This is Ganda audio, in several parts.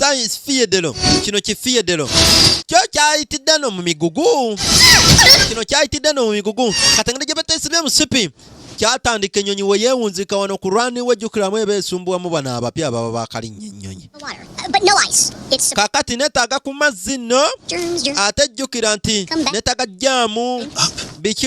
Science Fiyedero. Kino ki Fiyedero. Kyo kyayitidde no mu migugu. Kino kyayitidde no mu migugu. Katangire gye bateesibye musipi. Kyatandika ennyonyi we yeewunzika wano ku rwani we jjukiramu eba esumbuwamu bano abapya ababa baakalinnya ennyonyi. Kakati neetaaga ku mazzi nno ate jjukira nti neetaaga jjaamu biki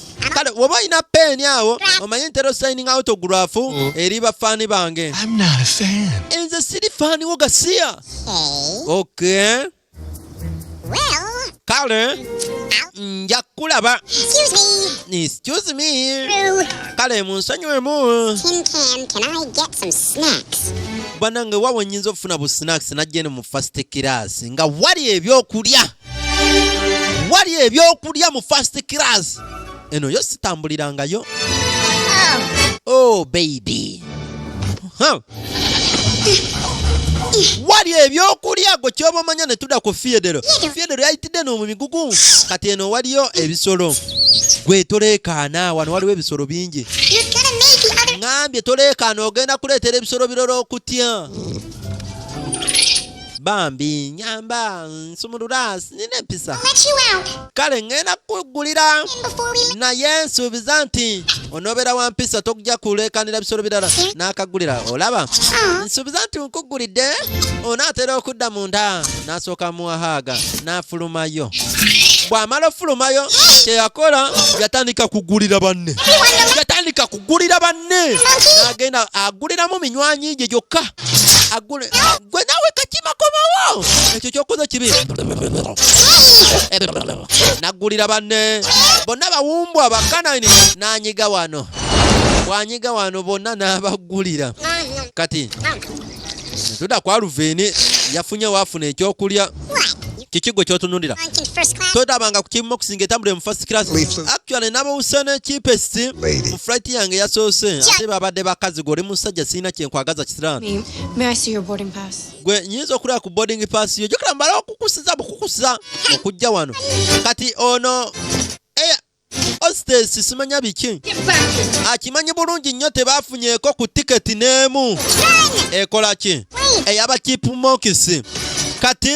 kale woba olina peeni awo omanyi ntera osayining autograph mm. eri bafaani bange nze siri faani wo gasiya ok kale nja kulaba excuse me kale munsonyiwemu banange wawo nyinza okufuna bu snacks najje ne mu first class nga wali ebyokulya wali ebyokulya mu first class eno yo sitambulirangayo oh baby huh. wali ebyokulya gwe kyoba omanya ne tuda ku fiedero fiedero yayitidde no mu migugu kati eno waliyo ebisolo gwe toleekaana wano waliwo ebisolo bingi ŋambye toleekaana ogenda kuleetera ebisolo biroro okutya bambi nyamba nsumulula sinina empisa kale ŋŋenda kukugulira naye nsuubiza nti onobeera wa mpisa tokujja kuleekanira bisolo birala n'akagulira olaba ah. nsuubiza nti nkugulidde onaatera okudda mu nda n'asooka muwahaaga n'afulumayo bw'amala ofulumayo kyeyakola yatandika kugulira banne yatandika kugulira banne agenda aguliramu minywanyi gye gyokka agule gwe nawe kakima komawo ekyo kyokoze kibi nagulira banne bonna bawumbwa bakanani nanyiga wano bwanyiga wano bonna nabagulira kati tuda kwa luveeni yafunye wafuna ekyokulya kiki gwe kyotunulira todabanga ku kimu okusinga etambulire mu first class actually nabawuse nekipesi mu flight yange yasoose ate babadde bakazi gwe oli musajja sirina kyenkwagaza kisiraani gwe nyinza okulaba ku boarding pass yo jukira mbala okukusiza bukukusa okujja wano kati ono ositesi simanya biki akimanyi ah, bulungi nnyo tebafunyeeko ku tiketi n'emu ekola ki eyaba kipu mokisi kati